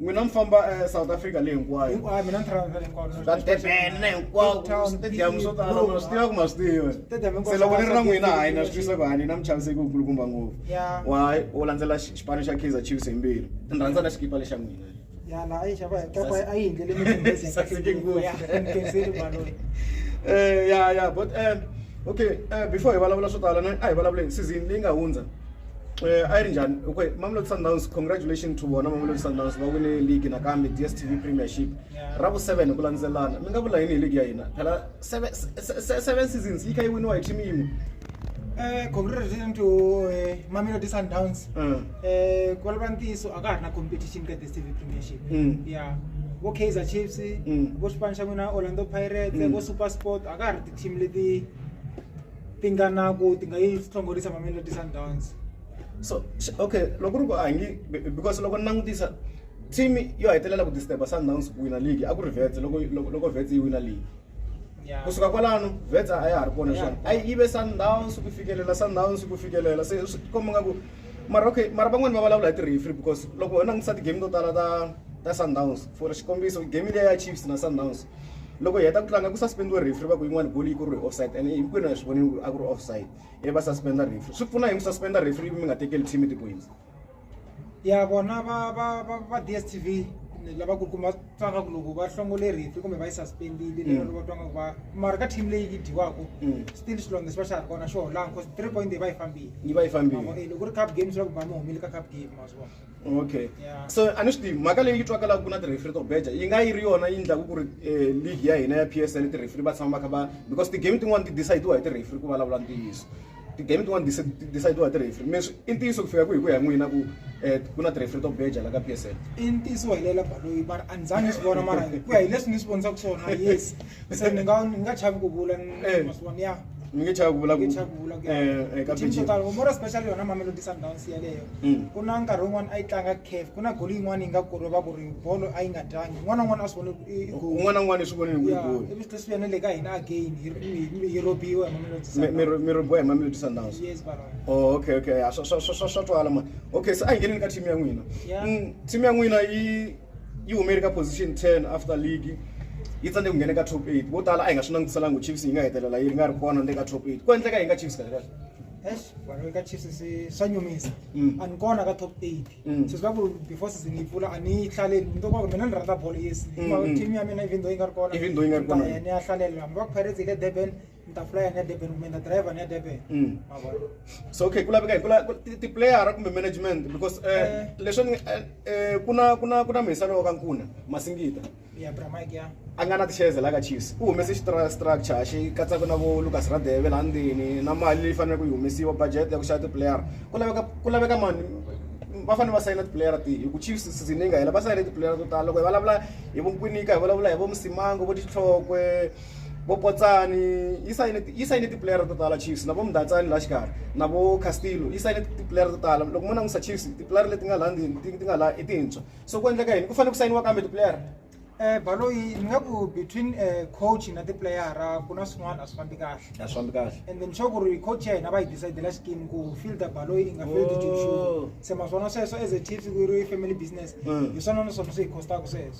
n'wina mi famba eh, south africa leyi hinkwayo hinkwayo mina ni travel hinkwalo ka durban na hinkwako Cape Town, stadium swo tala Bloem, ma swi tiva ku ma swi tiva Stadium hinkwawo se loko ni ri na swa n'wina Cape hayi na Town. swi twisa ku hayi ni na muchaviseki wukulukumba ngopfu Ya. wa u landzela xi- xipano xa kaizer chiefs hi mbilu ni rhandza na xikipa lexa n'wina yana a yi xava hi kapa a yi hindlele mithembesi ya Saseke kahle ngopfu. ya mkenzeli baloyi Eh, ya ya but um okay eh, before hi vulavula swo tala na- a hi vulavuleni season leyi nga hundza Eh, a yi ri njhani okay mamelodi sundowns congratulation to vona mamelodi sundowns va wine league nakambe dstv premiership ra vu-seven hi ku landzelelana mi nga vula yini hi league ya hina phela seven se- se- se- seven seasons yi kha yi winiwa hi team yin'we Eh, congratulations to eh, mamelodi sundowns Mm. Eh, ku vulavula ntiyiso a ka ha ri na competition ka dstv premiership Mm. ya vo kaizer chiefs Mm. vo xipano xa n'wina orlando pirates Mm. vo super sport a ka ha ri ti-team leti tinganaku ti nga yi hlongorisa mamelodi sundowns so okay loko ri ku a nge because loko ni langutisa team yo hetelela ku disturba sundowns ku wina league a ku ri vets loko loko vets yi wina league kusuka kwalano vets a ya ha ri kona swona a yi ve sundowns ku fikelela sundowns ku fikelela se swi komba nga ku mara okay mara van'wani va vulavula hi ti-refree because loko ho langutisa ti-game to tala ta ta sundowns for xikombiso game leya ya chiefs na sundowns loko hi heta ku tlanga ku suspend-iwe referee va ku yin'wana goal yi ku ri offside and hinkwenu hi swi vonile ku a ku ri offside ivi va suspend-a referee swi pfuna hi ku suspend-a referee ivi mi nga tekeli team tipoints ya vona va va va va DSTV lava ku kuma twaka ku loko va hlongole referee kumbe va yi suspend-ile lero loko va twanga ku va mara ka team leyi yi dyiwaka Mm. still xilonge xi va xa ha ri kona xo holanga cause three point leyi va yi fambile yi va yi fambile Mavona, eh, loko ku ri cup game swi la ku ba mi humile ka cup game ma swi vona okay yeah. so a ni swi tivi mhaka leyi yi twakalaka ku na ti-refri to beja yi nga yi ri yona yi endlaku ku ri eh, league ya hina ya p s l ti-refri va tshama va kha va because ti-game tin'wani ti decide-iwa hi ti-refri ku vulavula ntiyiso ti-game tin'wani decide-iwa hi ti-refri mi i ntiyiso ku fika ku hi ku ya n'wina ku um ku na ti-refri to beja la ka p s l i ntiyiso wa hilela baloyi va ri a ni zangi swi vona mara ku ya hi leswi ni swi vonisaka swona yes se ni nga ni nga chavi ku vula ni Eh. masiwana ya ni nge chavi ku vula ku nge chavi ku vula ku Eh, eh, ka team to Beijing. tala more especially yona mamelodi sundowns yeleyo Mm. ku na nkarhi wun'wana a yi tlanga caf ku na goli yin'wana yi nga kuri va ku ri bolo a yi nga tlangi un'wana na un'wana a swi vone i- i goal. un'wana na un'wana swi vonini ku yi Ya, goli ivi swi tlhe swi ya na le ka hina again hi hi- hi- hi robiwa hi mamelodi Mi- mi Sundowns. mi robiwa hi mamelodi sundowns yes bara Oh, okay okay ya, swa swa swa swa- swa twala mani okay se a hi ngeneni ka team ya n'wina Yeah. Mm, team ya n'wina yi yi humele ka position ten after league yi tsandze ku nghena ka top eight vo tala a hi nga swi langutiselanga ku chiefs yi nga hetelela yi ri nga ri kona ni le ka top eight ku endleka yi nga chiefs kahle kahle Eish, vanhu eka chiefs se- swa nyumisa Mm. a ni kona ka top eight Mm. so swi vula ku before season yi pfula a ni yi hlaleli ni tokwaku mina ni rhandza bolo yes Mm, mm. team ya mina even though yi nga ri kona Even though yi nga ri kona. ni ta ya ni ya hlalela hambi va ku pirates yi le durban ntafula ya nedeben kumbe na driver nedeben mm. so okay ku laveka hi tiplayera kumbe management because um eh, eh. leswi ni eh, eh, ku na ku na ku na muhisani wa ka nkuna masingita ya bramike ya a nga na tixeze la ka chiefs u humese xistructure xi katsaka na vo lucas radeve laha ndzeni na mali leyi faneleke yi humesiwa budget ya ku xava tiplayera ku laveka ku laveka mani va fanele va sayina tipuleyara tihi hi ku chiefs season yi nga hela va sayine tipuleyara to tala loko hi vulavula hi vonkwinika hi vulavula hi vo musimango vo tihlokwe vo Potsani yi sayine yi sayine tipuleyara to tala Chiefs na vo Mdatsani laha xikarhi na vo Castillo yi sayine tipuleyara to tala loko mo langusa Chiefs tipuleyara leti nga laha ndzeni ti ti nga laha i tintshwa so ku endleka yini ku fanele ku sayiniwa kambe tipuleyara Eh Baloyi ni nga ku between eh coach na tipuleyara ku na swin'wana a swi fambi kahle a swi fambi kahle and then sure ku ri coach ya hina va yi decidela xikimu ku fielder Baloyi i nga field Oh. Joshua se ma swona sweswo as a Chiefs ku ri family business Mm. hi swona na swona swi hi costaka sweswo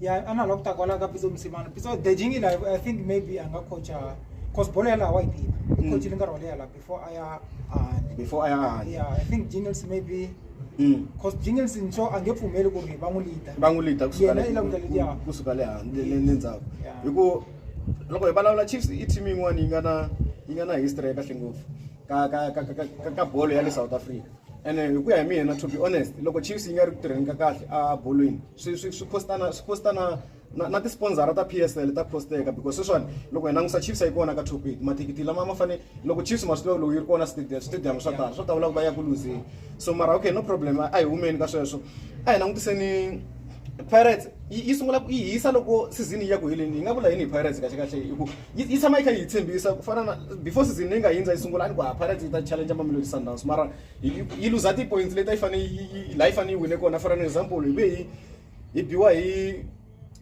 ya a na la ku ta kwala ka pitso musimana pitso the jingi la i think maybe a nga coacha cause bolo ya laha wa yi tiva i mm. coachile nkarhi wa leya laha before a ya ahandi before a ya ahandi ya i think jingles maybe mm. cause jingles nso a nge pfumeli ku ri va n'wi lida va n'wi lida kusuka le handle le ndzhaku hi ku loko hi vulavula chiefs i team yin'wana yi nga na yi nga na history ya kahle ngopfu ka ka ka ka ka bolo ya le south africa ene hi ku ya hi mina to be honest loko chiefs yi nga ri ku tirheni ka kahle a bolweni swi swi swi cost na swi cost na na na ti-sponsor ta PSL ta cost-eka because sweswiwani loko hi langusa Chiefs a yi kona ka top eight mathikithi lama ma fane loko Chiefs ma swi tiva loko yi ri kona stadium stadium swa tala swo tawula ku va ya ku luzeni so mara okay no problem a hi humeni ka sweswo a hi langutiseni pirates yi yi sungula ku yi hisa loko season yi ya ku heleni yi nga vula yini hi pirates kahle kahle hi ku yi yi tshama yi kha yi hi tshembisa ku fana na before season leyi nga hindza yi sungula a ni ku ha pirates yi ta challenge mamelodi sundowns mara yi luza ti-points leti a yi fanele yi laha yi fanele yi wine kona for an example hi ve hi hi biwa hi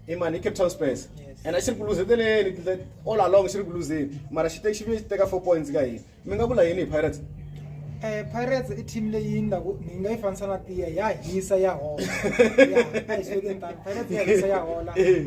hi mani hi cape town spurs and a xi ri ku luzeteleni all along xi ri ku luzeni mara xi xi vuye xi teka four points ka hina mi nga vula yini hi pirates Eh Pirates i team leyi ni laku ni nga yi fanisa na tiya ya hisa ya hola ya hi sweke tani Pirates ya hisa ya hola eh.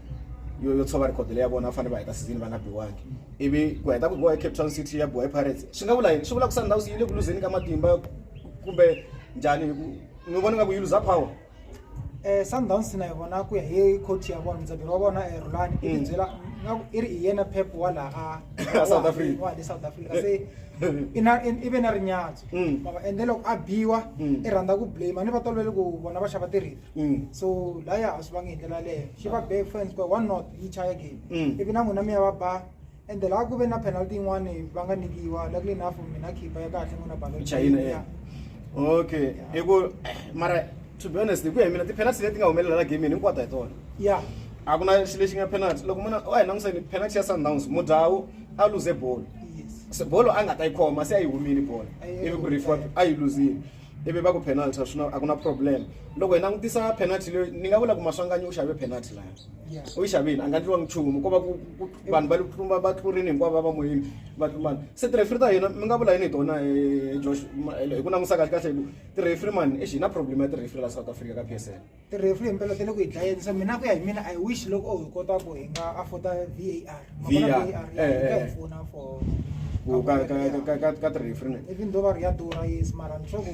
yo yo tshova record leyi ya vona va fanele va heta season va nga biwangi ivi ku heta ku biwa hi cape town city ya biwa hi pirates swi nga vula yini swi vula ku sundowns yi le ku luzeni ka matimba kumbe njhani hi ku mi vona nga ku yi luza power eh Sundowns na yona ku ya hi coach ya vona mdzabiri wa vona eh Rulani i Mm. byela nga ku i ri hi yena Pep wala a A South Africa. wa le South Africa se ina i ve na rinyatso Mm. mama ende loko a biwa Mm. i rhandza ku blame ni va tolovele ku vona va xava tirhiti Mm. so la ya ha swi vangi hi ndlela leyo xi va be fans ku one not yi chaya game Mm. ivi na n'wina mi ya va ba and laha ku ve na penalty yin'wani va nga nyikiwa luckily enough mina khipa ya kahle n'wina balo Chayina, eh. okay hi ku mara to be honest hi ku ya hi mina ti-penalty leti nga humelela la gamini hinkwato hi tona ya a ku na xi lexi nga penalty loko munhu a hi langutiseni penalty ya sundowns mudhawu a luze bolo yes Se bolo a nga ta yi khoma se a yi humile bolo A yi- ivi ku rifiwa a yi luzile ivi va ku penalty swi a ku na problem loko hi langutisa penalty leyi ni nga vula ku maswanganyi u xave penalty laya u yi xavile a nga ndliwa nchumu ko va ku vanhu va tlumba va tlurini hinkwavo va va moyeni va tlumbana se tirefiri ta hina mi nga vula yini hi tona eh, josh hi ku langusa kahle kahle hi ku tirefiri mani exi hi na problem ya tirefiri la south africa ka p s l tirefu hi mpela tele ku hi dlayeni so mina ku ya hi mina i wish loko o hi kota ku hi nga afforda var var ya eh, eh, hi eh. pfuna for ka tirefu ne even though va ri ya durha yes mara ni sure ku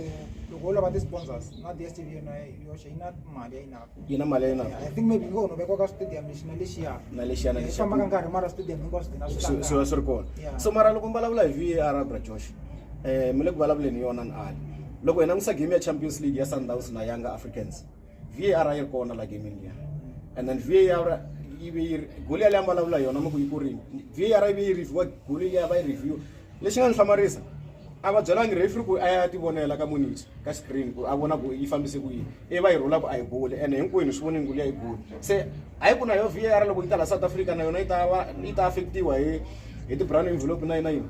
loko wo lava ti-sponsors na dstv yona yoxe yi na mali ya yinako yi na mali ya yinako i think maybe ngo no vekwa ka stadium lexi na lexiya na lexiya na lexiya fambaka nkarhi mara stadium hinkwaswo dina swi va swi ri kona so mara loko mi vulavula hi var abra josh um mi le ku vulavuleni yona ni ali loko hi langusa game ya champions league ya sundowns na young africans var a yi ri kona la gamini liya and then var yi ve yi ri goli yaleyi a vulavula yona mi ku yi kurini var yi ve yi reviewa goli liya va yi review lexi nga ni hlamarisa a va byelangi refri ku a ya tivonela ka muniti ka screen ku a vona ku yi fambise ku yini i va yi rhula ku a yi boli ene hinkwenu swi vonini ku liya yi boli se a yi ku na yo var loko yi ta la south africa na yona yi ta va yi ta affectiwa hi hi ti-brown envelope na yina yini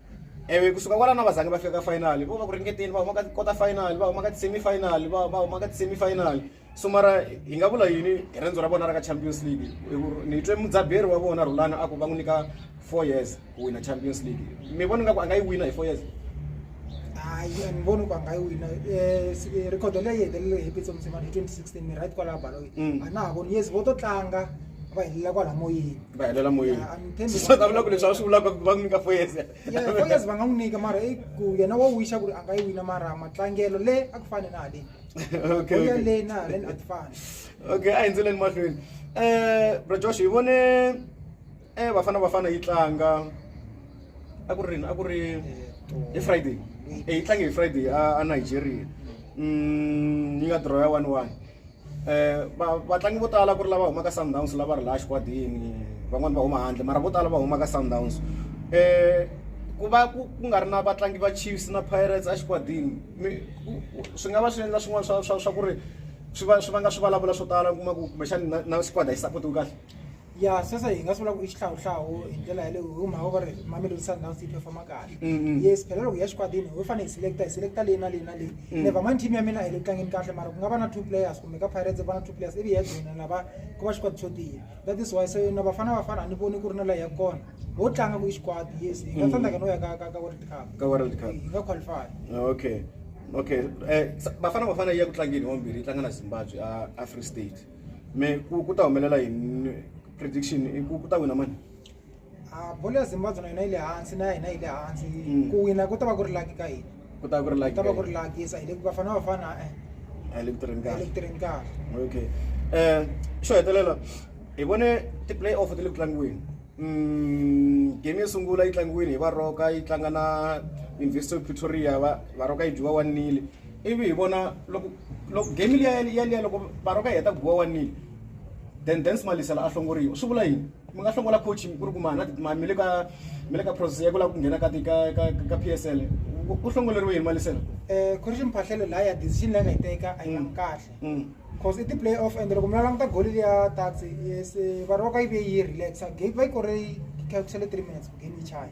Ewe kusuka kwalano a va zangi va fika ka final vo va ku ringeteni va huma ka quarter final va huma ka ti-semi final va va huma ka ti-semi final so mara hi nga vula yini hi riendzo ra vona ra ka champions league hi ku ni twe mudzaberi wa vona rhulani a ku va n'wi nyika four years ku wina champions league mi vona nga ku a nga yi wina hi four years hayi a ni voni ku a nga yi wina um rikhodo leyi hetelele hi pitso mutsemani hi twenty sixteen mi right kwalaha baloi a na ha voni yes vo to tlanga va helela kwala moyeni va helela moyeni siswa ta vula ku leswi a swi vulaka ku va n'wi nyika foyese foyese va nga n'wi nyika mara i ku yena wa wixa ku ri a nga yi wina mara matlangelo le a ku fane na haleni oya le na haleni a ti fani okay a hi ndzeleni mahlweni um bro josh hi vone um vafana vafana yi tlanga a ku ri rini a ku ri hi friday eh, yi tlange hi friday a nigeria mm, yi nga draw ya one one vatlangi vo tala ku ri lava humaka Sundowns lava ri laha xikwatini van'wani va huma handle mara vo tala va humaka Sundowns ku va ku ku nga ri na vatlangi va Chiefs na Pirates a xikwatini swi nga va swi endla swin'wana swa swa swa ku ri swi va swi vanga swi vulavula swo tala u kuma ku kumbexani na na squad a yi support-iwi kahle. ya sweswo hi nga swi vula ku i xihlawuhlawu hi ndlela yaleyo hi mhaka ku ri mamelodi sundowns yi performa kahle mm-hmm. yes phela loko ya xikwatini ho fanele hi selecta hi selecta leyi na leyi na leyi mm. never mind team ya mina a yi le tlangeni kahle mara ku nga va na two players kumbe ka pirates va na two players ivi ya joina lava ku va xikwati xo tiya that is why so na vafana vafana a ni voni ku ri na layi ya kona ho tlanga ku i xikwati yes hi nga mm. tsandzaka no ya ka ka world cup ka world cup hi nga qualify okay okay eh, bafana bafana yi ya ku tlangeni wambirhi yi tlanga na zimbabwe a free state me ku ku ta humelela yini prediction i ku ku ta wina mani a bolo ya zimbabwe na yona yi le hansi na hina yi le hansi Mm. ku wina ku ta va ku ri laki ka hina ku ta ku ri ku like ta va ku ri laki sa hi le ku vafana vafana eh, a le ku tirheni hi le kahle ku tirheni kahle okay um xo hetelela hi vone ti-play off ti le ku tlangiweni um game yo sungula yi tlangiwile hi varoka yi tlanga na university of pretoria va varoka yi dyiwa one nile ivi hi vona loko loko game liya yaliya loko baroka yi heta ku biwa one nil then dance malisela a hlongoriwa swi vula yini mi nga hlongola coach ku ri ku mahana mi le ka mi le ka process ya ku lava ku nghena ka ka p s l u hlongoleriwe yini malisela um khorixi mphahlelo laha ya decision leyi nga yi teka a yi mm. kahle mm. cause i ti-play off and loko mi la languta goli liya taxi yes eh, varoka yi ve yi relaxa game va yi kore yi calcule three minutes ku game yi chaya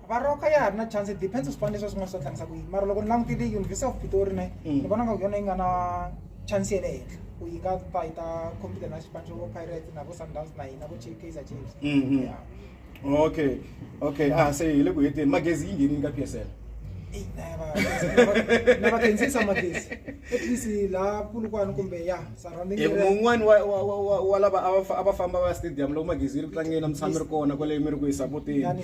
Baroka ya ha ri na chance depends swipano leswi swi nga swi ta tlangisa ku yini mara loko ni langutile university of pitori ne mm. ni vona nga ku yona yi nga na chance ya le henhla ku yi nga ta yi ta compete na xipano xo pirate na vo sundowns na hina vo kaizer chiefs mm, mm. okay okay a ah, se hi le ku heteni magezi yi nghenini ka p s l na va khendzisa magezi at least laha pulukwana kumbe ya un'wani wa lava a va famba va ya stadium loko magezi yi ri ku tlangeni na mutshami ri kona kwale mi ri ku yi sapoteni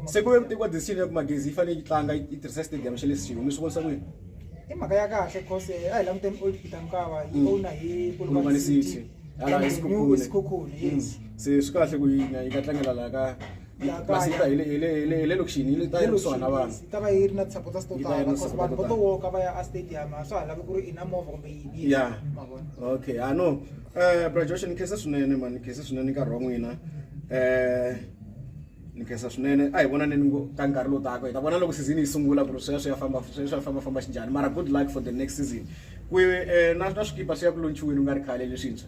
se ku ve ku tekiwa decision ya ku magezi yi fanele yi tlanga yi tirhisa stadium xa le siwu mi swi vonisa ku yini i mhaka ya kahle cause eh, a hi languteni old peter mukava yi mm. owna hi polokwane city sikhukhuni mm. se swi kahle ku yi nga tlangela laha ka Ya kaya. masita hi le- hi le- hi le- hi le lokixini yi le- ta yi ri kusuhana na vanhu yi ta va yi ri na ti-supporters to Yi ta yi tala ri na because vanhu vo to supporter. woka va ya a stadium a swa ha lavi ku ri i na movha kumbe yini Ya. ma vona okay i know eh bra josh ni khensa swinene mani ni khensa swinene nkarhi wa n'wina eh ni khensa swinene a hi vonaneni ngo- ka nkarhi lowu taka hi ta vona loko season yi sungula ku ri sweswo ya famba sweswo ya famba famba xinjhani mara good luck for the next season ku eh, na na swikipa swi ya ku lontshiweni u nga ri khale leswintshwa